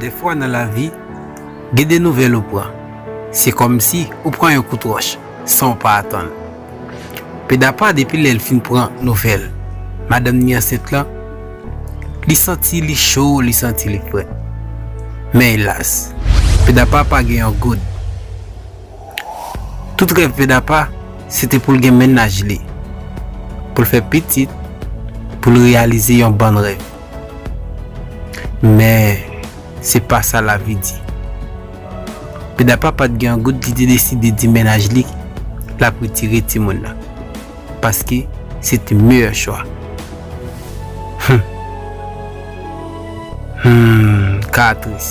Dèfwa nan lavi, gen de nouvèl ou pran, se kòmsi ou pran yon kout wòch san ou pa atann. Pedapa depi lè l fin pran nouvèl madanm ni ansent lan, li santi li cho, li santi li frèt. Men elas, Pedapa pa gen yon goud. Tout rèv Pè Dapa se te pou l gen mennaj li, pou l fè pitit, pou l reyalize yon bann rèv. Men, se pa sa lavi di. Pè Dapa pa t gen yon goud li te deside di mennaj li l ap retire timoun nan, paske se te meyè chwa. Hum! Hum! Ka a tris.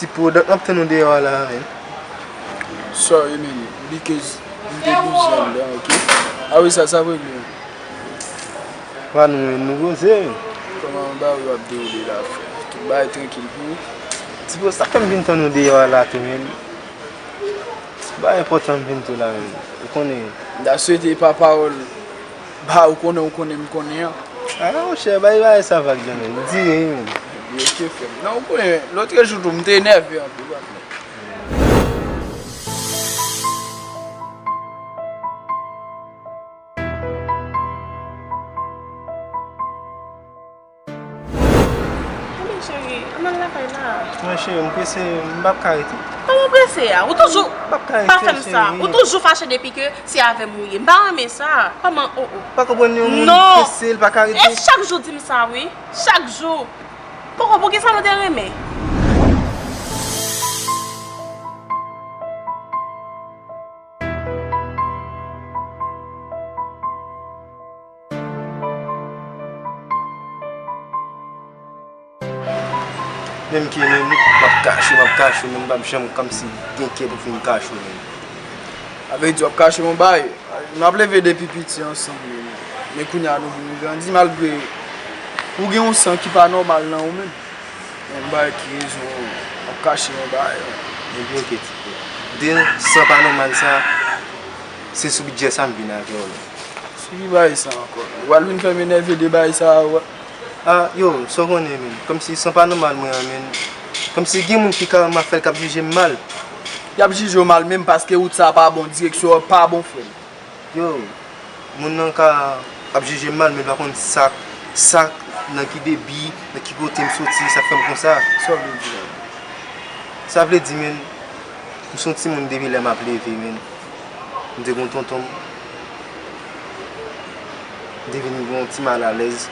Ti product map tann ou deyò a la men. Sorry man, because m te bgy andan ok. Ah wi sa sa vre gnou. Wa nou menm nou koze wi. Koman yon bagay wap dewoule la frè. Tout bagay trankil pou ou? Ti bro sak fèm vin tann ou deyò a la tou menm. Ou pa enpòtan vin tou la menm ou konnen. M ta swete pa pawòl ba ou konnen ou konnen m konnen an. A la monchè bay bagay sa vag nan menm, di yen wi menm. Epi ok frèm. Nan ou konnen lotrejou tou m te nève anpil ou pa konnen. Anmèy cheri, an al lakay la. Mwen cheri, m prese, m pap ka rete. Kòman w prese a? Ou toujou. M pap ka rete cheri. Pa fè m sa. Ou toujou fache depi ke se avè m ou ye. M pa renmen sa. Kòman o o. Pa konprann yon moun prese, l pa ka rete. Non! E chak jou w di m sa wi. Chak jou. Poko, pou kisa nou te renmen? Menm kè menm map kache map kache menm pap janm kòmsi gen kè pou fin kache menm. A vè di wap kache yon bagay, nou ap leve depi piti ansanm menm, men kounya nou vin grandi malgre ou gen yon san ki pa nòmal nan ou menm. Menm m bay ki rezon wap kache yon bagay menm. Mwen byen kè ti frè. Depi san pa nòmal sa, se sou bidjè sa m vin avè w la. Sibi baay sa ankò. Ou pral vin fèm enève de baay sa a wè. Ah yo sa w konnen menn. Kòmsi san pa nòmal mwen an menn. Kòmsi gen moun ki karèman ap fè l k ap jije m mal. Y ap jije w mal menm paske wout sa a pa bon, direksyon an pa bon frè m. Yo moun nan ka ap jije m mal men l pa konn sa k, sa k, nan ki debi, nan ki kote m soti sa k fè m konsa. Sa w vle di la? Sa vle di menn m s on timoun depi lè m ap leve menn. M te gen yon tonton m. M te vin gen yon ti malalèz.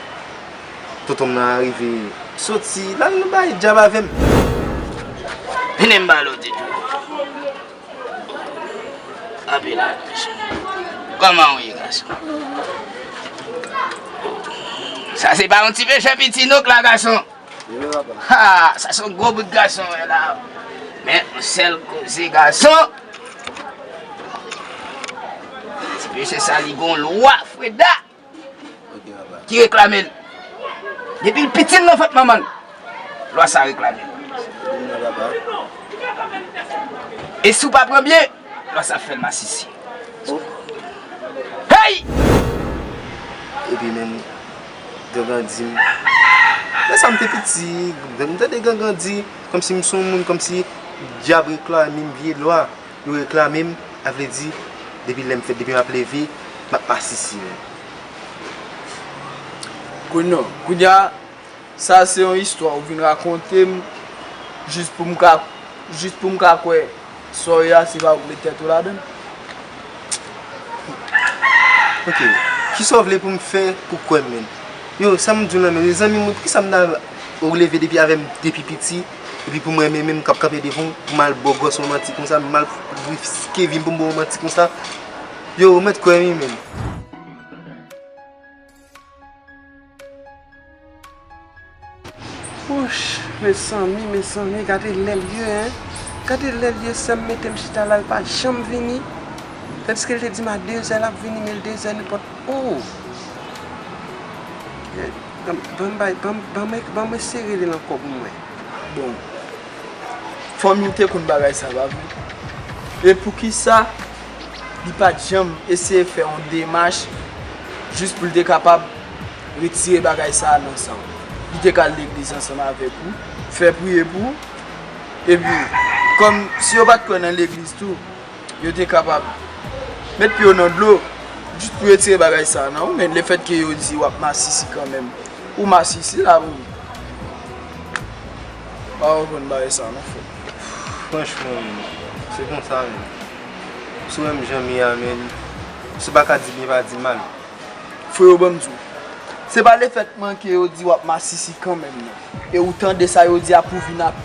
Tonton m nan arive soti, l al bay djab avè m. Mennen m ba lòt ti djòl. Kanpe la dan mesye. Kòman ou ye gason? Sa se pa yon ti pechè piti non k la gason. Ha! Sa son gwo bout gason mwen wè la. Men yon sèl koze gason. Ti mesye sa li gon lwa freda. Ki reklame l. Depi l piti l nan vant manman l. Lwa sa reklame l. E si w pa pran byen. Lwa sa ap fèl masisi Hey! Epi menm Gangan di m Lèsa m te piti Lèm tande Gangan di Kòmsi m son moun kòmsi Dyab reklame m vye lwa Yo reklame m A vle di Depi lèm fèt depi m ap leve M ap masisi Kounya Sa se yon istwa ou vin rakonte m jis pou m ka jis pou m ka kwè sa w ye a se pa ou k met tèt ou ladan l? Ok, kisa w vle pou m fè pou kwè m menm? Yo, sa m di w nan menm, yo zanmi mwen poukisa m ta ou leve depi avè m depi piti epi pou m renmen menm k ap kanpe devan w pou m al ba w gòs yon manti konsa m al riske vi m pou m ba w yon manti konsa? Yo, ou mèt kwè m wi menm. Wouch mezanmi mezanmi gade lèl ye hein gade lèl ye sèm metem chita la li pa janm vini tandiske li te dim a 2 zè lap vini men 2 zè nenpòt ooh banm bay banm esere lil ankò pou mwen. Bon fanmiw te konn bagay sa pa vre e poukisa. Li pa t janm eseye fè yon demach jis pou l te kapab retire bagay sa a nan san w. Li te ka al legliz ansanm avèk ou, fè priye pou ou, epi kòm si yo pa t kwè nan legliz tou, yo te kapab met pye yo nan dlo jis pou retire bagay sa a nan ou, men lefètke yo di w ap masisi kanmenm, ou masisi la pou Ou pa konprann bagay sa a non frè m. Franchman, se konsa menm. Sou menm jan m ye a men se pa ka di byen pa di mal. Freo ban m di w. Se pa le fèt manke yo di w ap masisi kanmenm nan. E ou tande sa yo di a pou vin ap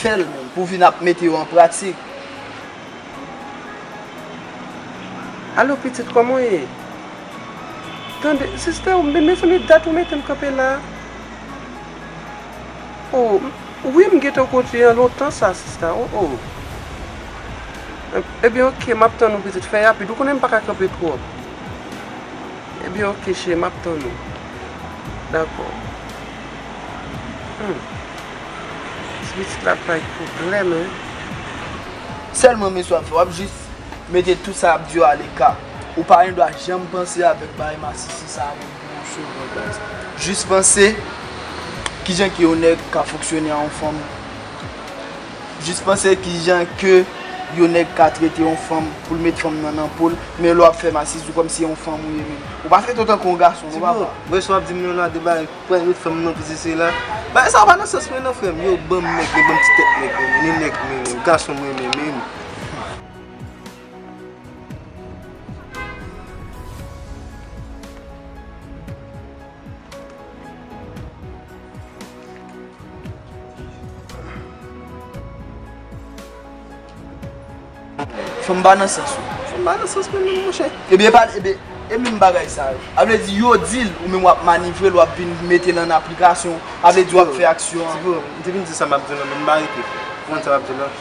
fè l menm. Pou vin ap mete yo an pratik. Alo pitit kòman w ye? Tande, sista, mezanmi dat ou mete m kanpe la. Oh wi m gentan kontinye an lontan sa sista oh oh Ebyen ok map tann ou pitit fè rapid ou konnen m paka kanpe twòp Ebyen ok cheri map tann ou Dakò Humm ti pitit la ap bay pwoblèm hein. Sèlman men sa wap fè wap jis mete tout sa yap diw aleka ou pa gendwa janm panse avèk bagay masisi sa yo. Jis panse, kijan ke yon nèg ka fonksyone a yon fanm? Jis panse kijan ke yon nèg ka trete yon fanm pou l met fanm nan nan po l, men lè w ap fè masisi w kòmsi se yon fanm ou ye menm. Ou pa trete w tankou yon gason non papa. Ti bro, mwen si w ap di m yon lade bagay, pran yon fanm nan sesi sela, bagay sa pa nan sans mwen non frè m. Yo banm nèg, yo banm ti tèt nèg mwen renmen, ni nèg mwen renmen, gason mwen renmen menm. Fòm ba nan sans ou. Fòm ba nan sans mwen menm monchè. Ebyen pa ebyen e menm bagay sa yo. A vle di yo di l ou menm wap manivre l wap vin mete l an aplikasyon. A vle di wap fè aksyon an. Ti bro, m te vin di sa m ap di w lan men m pa rete. Ou konn sa m ap di w lan?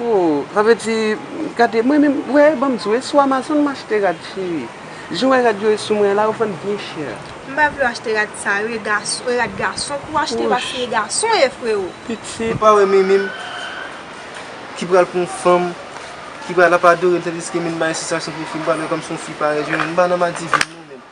Hoo sa vle di gade mwen menm wè banm di w e sou amazon m achte rad cheri jan w wè rad yo ye sou mwen an la yo vann byen chè. M pa vle w achte rad sa yo e gason e rad gason pou w achte paske e gason w ye freo. Pitit. Ou pa wè mimi m ki pral pran yon fanm ki pral ap adore l tandiske mimi m bay satisfaksyon pou fi m pa wè kòmsi yon fi parèt jwenn m pa nan madivin non menm.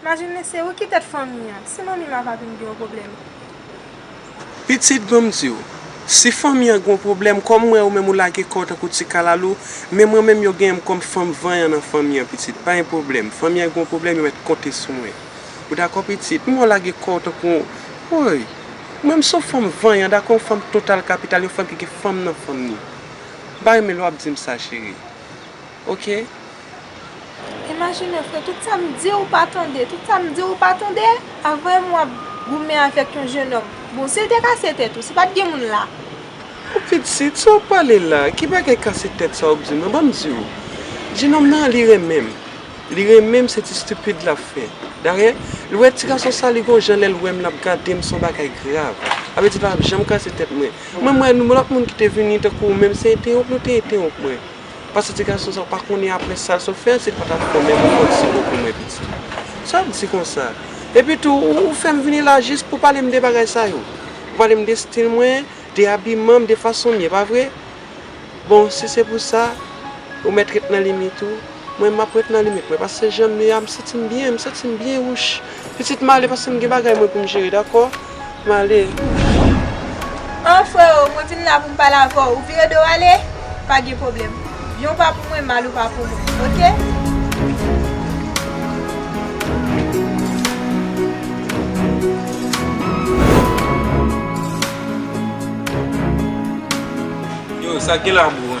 Majinne se ou ki tèt fanmi an. Si manmi ma pa vin gen yon pwoblèm. Pitit ban m di w. Si fanmi an gen yon pwoblèm, kòm m wè ou menm ou lage kò w tankou ti kalalou, men mwen menm yo genyen m kòm fanm vanyan nan fanmi an pitit. Pa gen pwoblèm. Fanmi an gen yon pwoblèm, yo mèt konte sou mwen. Ou dakò pitit? M wè w lage kò w tankou yon Woy! Mwen m se yon fanm vanyan, dakò yon fanm total kapital, yon fanm ki gen fanm nan fanm ni. M pa renmen lè w ap di m sa cheri. ok. Imajine fre tout sa m di ou pa tande, tout sa m di ou pa tande, avè m wap goumen avèk yon jenòm, bon si l te kase tèt ou, si pat gen moun la. Bon pitit, sa w ap pale la, ki bagay kase tèt sa w ap di m lan, banm di w, jenòm nan li renmen m, li renmen m se ti stupid l ap fè, dayè l wè ti gason sa li gon jan lè l wè m l ap gade m s on bagay grav, sa vle di l pa janm kase tèt mwen, mwen m wè nou lòt moun ki te vini tankou ou menm se entewonp nou te entewonp mwen. Pase ti gason sa ou pa konnen apre sal sot fè si pa tap fè menm ou pot si bo pou mwen piti. Sal di konsa. Epi tou ou fèm vini la jis pou palem de bagay sa yo. Ou palem de stil mwen, de abimanm, de fasonm ye pa vre? Bon si se pou sa ou mèt ret nan limit ou, mwen map ret nan limit mwen pase janm ye a m santim byen, m santim byen wouch. Pitit male pasem gen bagay mwen poum jere dakò. M ale. An freo, mwen vin la pou m pale avè w. Ou vire do w ale? Pa gen pwoblèm. Byen ou pa pou mwen, mal ou pa pou mwen. Oke? Yo, sa k gen la bro?